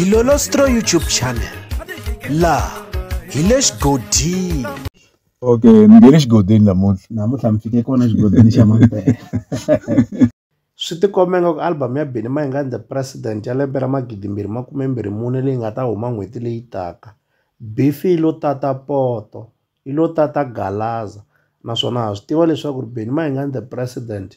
dilolostro youtube channel laha hi le xigodini okay ni nge le xigodini namuntlha namuntlha mi fike kona xigodini xa mampela swi tikombe nga ku album ya bini mayingani the president ya lembe ra magidimbirhi makumembirhi mune leyi nga ta huma n'hweti leyi taka bifi lo tata poto yi lo tata Galaza naswona ha swi tiva leswaku ri Benny Mayengani the president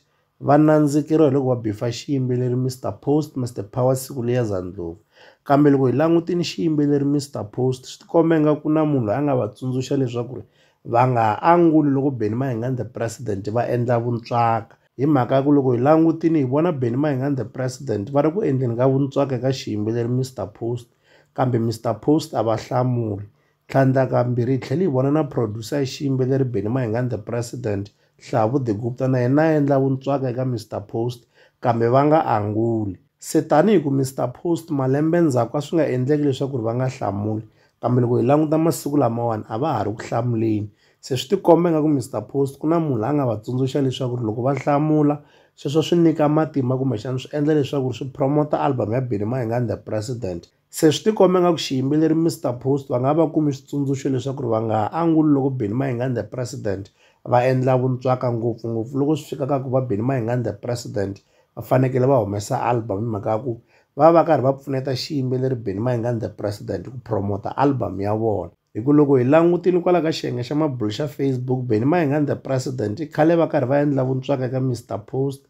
va nandzikeriwa hi loko va bifa xiyimbeleri Mister Post Mister Power siku liya za ndlopfu kambe loko hi langutile xiyimbeleri Mister Post swi tikomba ingaku na munhu loyi a nga va tsundzuxa leswaku ri va nga ha anguli loko Benny Mayengani the president va endla vuntswaka hi mhaka ya ku loko hi langutile hi vona Benny Mayengani the president va ri ku endleni ka vuntswaka eka xiyimbeleri Mister Post kambe Mister Post a va hlamuli Tlhandlakambirhi hi tlhele hi vona na producer ya xiyimbeleri Benny Mayengani The President, Hlavu The Gupta na yena a endla vuntswaka eka Mister Post kambe va nga anguli. Se tanihi ku Mister Post malembe ndzhaku a swi nga endleki leswaku ri va nga hlamuli, kambe loko hi languta masiku lamawani a va ha ri ku hlamuleni. Se swi tikomba ingaku Mister Post ku na munhu la nga va tsundzuxa leswaku ri loko va hlamula sweswo swi nyika matimba kumbexana swi endla leswaku swi promote album ya Benny Mayengani The President. Se swi tikomba nga ku xiyimbeleri Mister Post va nga va kumi switsundzuxo leswaku ri va nga ha anguli loko Benny Mayengani the president va endla vuntswaka ngopfungopfu loko swi fika ka ku va Benny Mayengani the president va fanekele va humesa album hi mhaka ya ku va va karhi va pfuneta xiyimbeleri Benny Mayengani the president ku promote album ya vona. Hi ku loko hi langutile kwala ka xiyenge xa mabulo xa Facebook, Benny Mayengani the President i khale va karhi va endla vuntswaka eka Mister Post,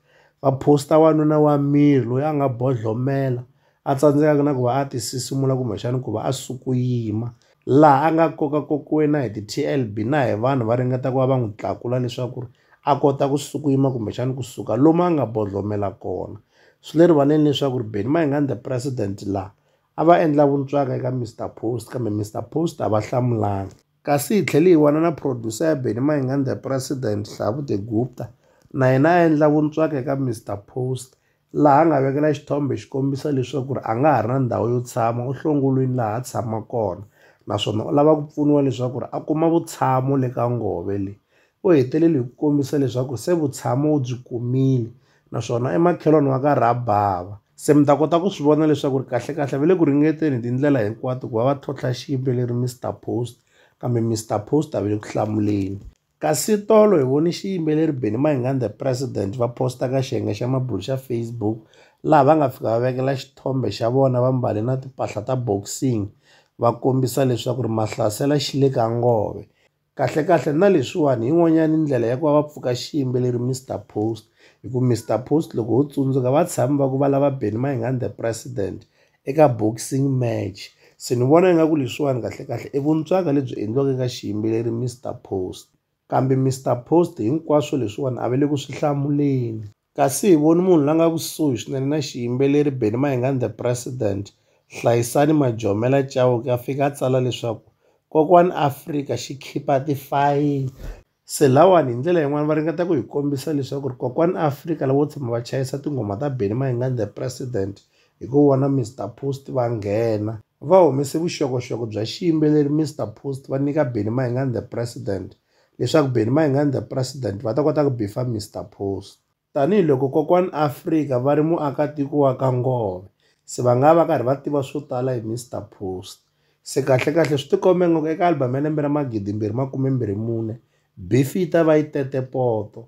va post-a wanuna wa miri loyi a nga bodlhomela a tsandzekaka na ku va a ti sisimula kumbexana ku va a suku yima. Laha a nga kokakokiwe na hi ti-T_L_B na hi vanhu va ringeta ku va va n'wi tlakula leswaku ri a kota ku suku yima kumbexana kusuka lomu a nga bodlhomela kona. Swi le rivaleni leswaku ri Benny Mayengani the President laha, a va endla vuntswaka eka Mister Post kambe Mister Post a va hlamulanga. Kasi hi tlhele hi vona na producer ya Benny Mayengani The President Hlabute Gupta na yena a endla vuntswaka eka Mister Post laha a nga vekela xithombe xi kombisa leswaku ri a nga ha ri na ndhawu yo tshama u hlongolwini laha a tshama kona naswona u lava ku pfuniwa leswaku ri a kuma vutshamo le ka ngove leyi. U hetelele hi ku kombisa leswaku se vutshamo u byi kumile naswona emakhelwani wa ka Rabava. Se mi ta kota ku swi vona leswaku ri kahle-kahle va le ku ringeteni hi tindlela hinkwato ku va va tlhontlha xiyimbeleri Mister Post, kambe Mister Post a va le ku hlamuleni. Kasi tolo hi vone xiyimbeleri Benny Mayengani The President va posta ka xiyenge xa mabulo xa Facebook laha va nga fika va vekela xithombe xa vona va mbale na timpahla ta boxing va kombisa leswaku ri Mahlasela xi le ka nghohe. Kahlekahle na leswiwani hi yin'wanyani ndlela ya ku va va pfuka xiyimbeleri Mister Post hi ku Mister Post loko ho tsundzuka va tshami va ku va lava Benny Mayengani the president eka boxing match se ni vona ingaku leswiwani kahlekahle i vuntswaka lebyi endliwaka eka xiyimbeleri Mister Post kambe Mister Post hinkwaswo leswiwani a va le ku swi hlamuleni. kasi hi voni munhu la nga kusuhi swinene na xiyimbeleri Benny Mayengani The President, Hlayisani Majomela Chauke a fika a tsala leswaku Kokwani Afrika xi khipa tifayili. Se lawani hi ndlela yin'wana va ringeta ku hi kombisa leswaku ri Kokwani Afrika lavo tshama va chayisa tinghoma ta Benny Mayengani The President hi ku vona Mister Post va nghena va humese vuxokoxoko bya xiyimbeleri Mister Post va nyika Benny Mayengani The President leswaku Benni Mayengani the President va ta kota ku bifa Mister Post. Tanihi loko Kokwani Afrika va ri muakatiko wa ka Nghohe, se va nga va va karhi va tiva swo tala hi Mister Post. Se kahle-kahle swi tikombe ingaku eka album ya lembe ra magidimbirhi makume-mbirhi-mune, bifi yi ta va yi tete poto,